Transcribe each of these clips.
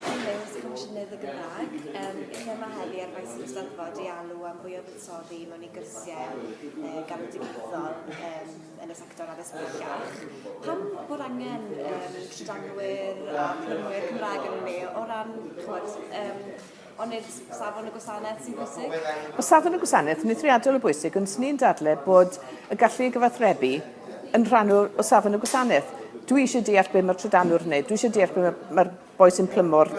Henoes, Comisiynydd y Gymraeg. Um, lle mae heddi ar faes yr Eisteddfod i alw am fwy o fuddsoddi mewn i gyrsiau uh, galwedigaethol um, yn y sector addysg bellach. Pam bod angen um, trydanwyr a plymwyr Cymraeg yn ni o ran, chwod, um, ond i'r safon y gwasanaeth sy'n bwysig? O safon y gwasanaeth, ni'n triadol o bwysig, ond ni'n dadle bod y gallu i gyfathrebu yn rhan o, o safon y gwasanaeth. Dwi eisiau deall beth mae'r trydanwr yn gwneud, dwi eisiau deall beth mae'r, mae'r boi sy'n plymo'r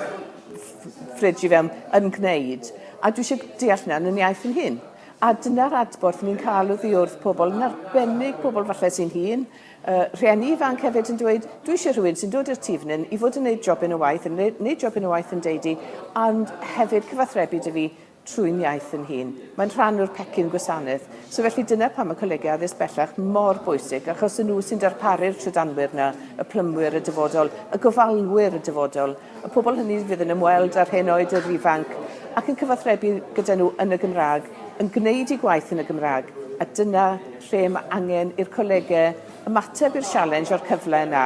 ffridge i fewn yn gwneud, a dwi eisiau deall hynna yn yn iaith yn hun. A dyna'r adborth ni'n cael oddi wrth pobl, yn arbennig pobl falle sy'n hun, uh, rhieni ifanc hefyd yn dweud, dwi eisiau rhywun sy'n dod i'r tîf i fod yn gwneud jobyn o waith, yn gwneud jobyn o waith yn deudi, ond hefyd cyfathrebu dy fi trwy'n iaith yn hun. Mae'n rhan o'r pecyn gwasanaeth. So felly dyna pam mae colegau addysg bellach mor bwysig, achos y nhw sy'n darparu'r trydanwyr yna, y plymwyr, y dyfodol, y gofalwyr, y dyfodol, y pobl hynny fydd yn ymweld â'r hen oed, yr ifanc, ac yn cyfathrebu gyda nhw yn y Gymraeg, yn gwneud eu gwaith yn y Gymraeg, a dyna lle mae angen i'r colegau ymateb i'r sialens a'r cyfle yna,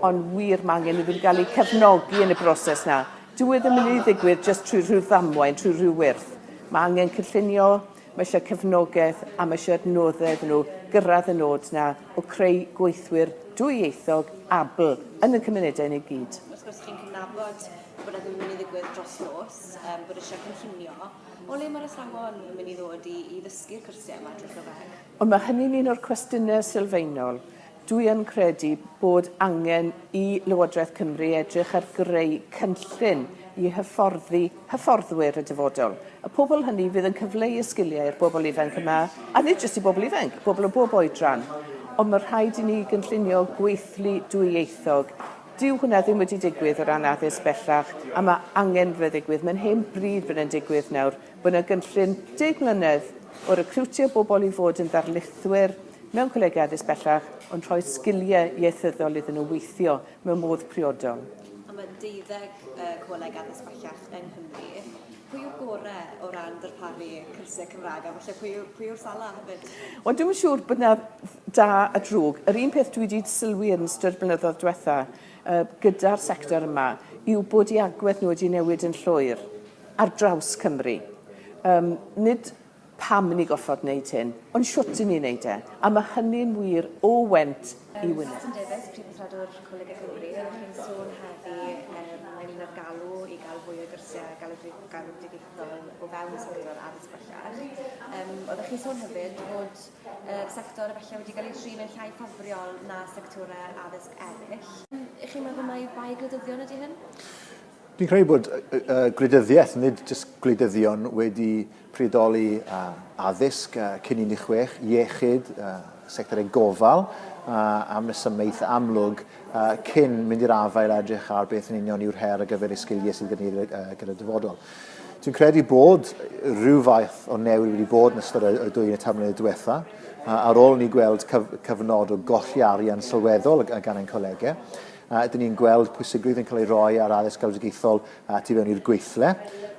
ond wir mae angen iddyn nhw gael eu cefnogi yn y broses yna. Dyw e ddim yn mynd i ddigwydd jyst trwy rhyw ddamwain, trwy rhyw wyrth. Mae angen cynllunio, mae eisiau cefnogaeth a mae eisiau adnoddau iddyn nhw gyrraedd y nod 'na o creu gweithwyr dwyieithog abl yn ein cymunedau ni i gyd. Wrth gwrs, chi'n cydnabod bod e ddim yn mynd i ddigwydd dros nos, um, bod eisiau cynllunio. O le mae'r athrawon yn mynd i ddod i, i ddysgu'r cwrsiau yma drwy Gymraeg? Ond mae hynny'n un o'r cwestiynau sylfaenol. Dwi yn credu bod angen i Lywodraeth Cymru edrych ar greu cynllun i hyfforddi hyfforddwyr y dyfodol. Y pobl hynny fydd yn cyfleu y sgiliau i'r bobl ifanc yma, a nid jyst i bobl ifanc, bobl o bob oedran. Ond mae rhaid i ni gynllunio gweithlu dwyieithog. Dyw hwnna ddim wedi digwydd o ran addysg bellach, a mae angen bod yn ddigwydd. Mae'n hen bryd bod yn digwydd nawr. Bod yna gynllun deg mlynedd o recriwtio bobl i fod yn ddarlithwyr mewn colegau addysg bellach ond rhoi sgiliau ieithyddol iddyn nhw weithio mewn modd priodol. A mae deuddeg coleg addysg bellach yng Nghymru. Pwy yw'r gorau o ran darparu cyrsiau Cymraeg a falle pwy, pwy yw'r sala hefyd? Wel, dwi'n siŵr bod yna da a drwg. Yr un peth dwi wedi sylwi yn ystod blynyddoedd diwetha gyda'r sector yma yw bod i agwedd nhw wedi newid yn llwyr. ar draws Cymru. Yym, nid pam i ni gorfod wneud hyn, ond shwt i ni wneud e, a mae hynny'n wir o Went i Wynedd. Susan Davies, Prif Withredwr Coleg y Cymry, chi'n sôn heddi ynglŷn â'r galw i gael fwy o gyrsiau galwedigaethol o fewn sector addysg bellach. Yym, oeddech chi'n sôn hefyd bod y sector efallai wedi cael ei trin yn llai ffafriol na sectorau addysg eraill. Y'ch chi'n meddwl mai bai gwleidyddion ydy hyn? Dwi'n credu bod gwleidyddiaeth, nid jyst gwleidyddion, wedi priodoli addysg cyn 16, iechyd, sectorau gofal, am resymau eitha amlwg, cyn mynd i'r afael a edrych ar beth yn union yw'r her ar gyfer y sgiliau sydd gen ni gyda'r dyfodol. Dwi'n credu bod rhyw fath o newid wedi bod yn ystod y dwy yn y tair mlynedd diwetha, ar ôl ni gweld cyfnod o golli arian sylweddol gan ein colegau. A ydyn ni'n gweld pwysigrwydd yn cael ei roi ar addysg galwedigaethol a tu fewn i'r gweithle,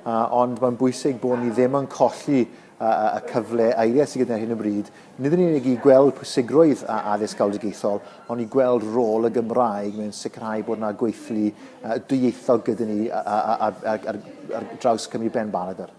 a, ond mae'n bwysig bod ni ddim yn colli a, a, y cyfle eiriau sydd gyda hyn o bryd, nid yn unig i gweld pwysigrwydd a addysg galwedigaethol, ond i gweld rôl y Gymraeg mewn sicrhau bod yna gweithlu a, dwyieithog gyda ni a, a, a, ar, ar, ar draws Cymru Ben Baragor.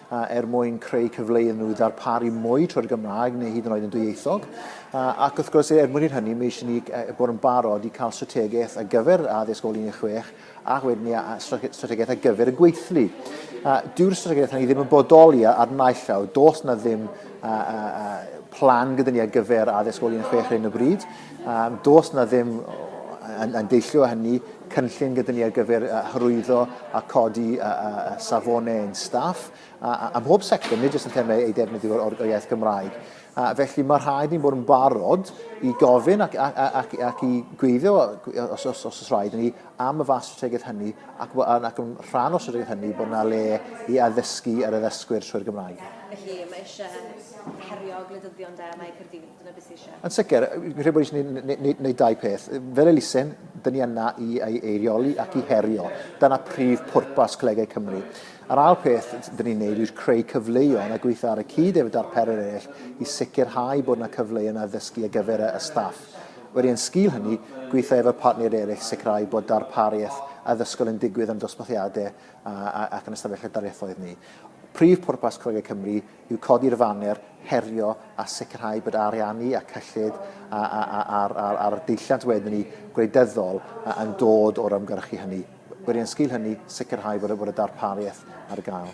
a er mwyn creu cyfle iddyn nhw ddarparu mwy trwy'r Gymraeg neu hyd yn oed yn dwyieithog. A, ac wrth gwrs, er mwyn i'r hynny, mae eisiau ni bod yn barod i cael strategaeth ar gyfer addysg ôl 16 a wedyn ni strategaeth ar gyfer y gweithlu. A, dyw'r strategaeth hynny ddim yn bodoli ar naill llaw. Does na ddim a, a, a, plan gyda ni ar gyfer addysg ôl 16 ar hyn o bryd. Um, does na ddim yn, yn deillio hynny cynllun gyda ni ar gyfer uh, hyrwyddo a codi uh, uh, safonau yn staff a, a, a mhob sector, nid jyst yn termau ei defnyddio o'r, o'r iaith Gymraeg. A felly mae rhaid ni'n bod yn barod i gofyn ac, ac, ac, ac i gweithio os, os, os, os rhaid ni am y fas strategaeth hynny ac, ac yn rhan o strategaeth hynny bod yna le i addysgu ar addysgwyr trwy'r Gymraeg. Felly mae eisiau herio gwleidyddion da mae Cyrdydd Dyna beth sydd eisiau. Yn sicr, fi'n credu bod eisiau gwneud dau peth. Fel elusen, dyn ni yna i ei eirioli ac i herio. Dyna prif pwrpas Colegau Cymru. A'r ail peth dyn ni'n gwneud yw creu cyfleoedd a gweithio ar y cyd efo darperir eraill i sicrhau bod yna cyfleoedd yna ddysgu ar gyfer y staff. Wedi yn sgil hynny, gweithio efo partneriaid eraill sicrhau bod darpariaeth addysgol yn digwydd yn dosbarthiadau ac yn ystafelloedd darlithoedd ni. Prif pwrpas Colegau Cymru yw codi'r faner herio a sicrhau bod ariannu a cyllid ar y deilliant wedyn ni gwleidyddol yn dod o'r ymgyrchu hynny. Wedi yn sgil hynny, sicrhau bod y darpariaeth ar gael.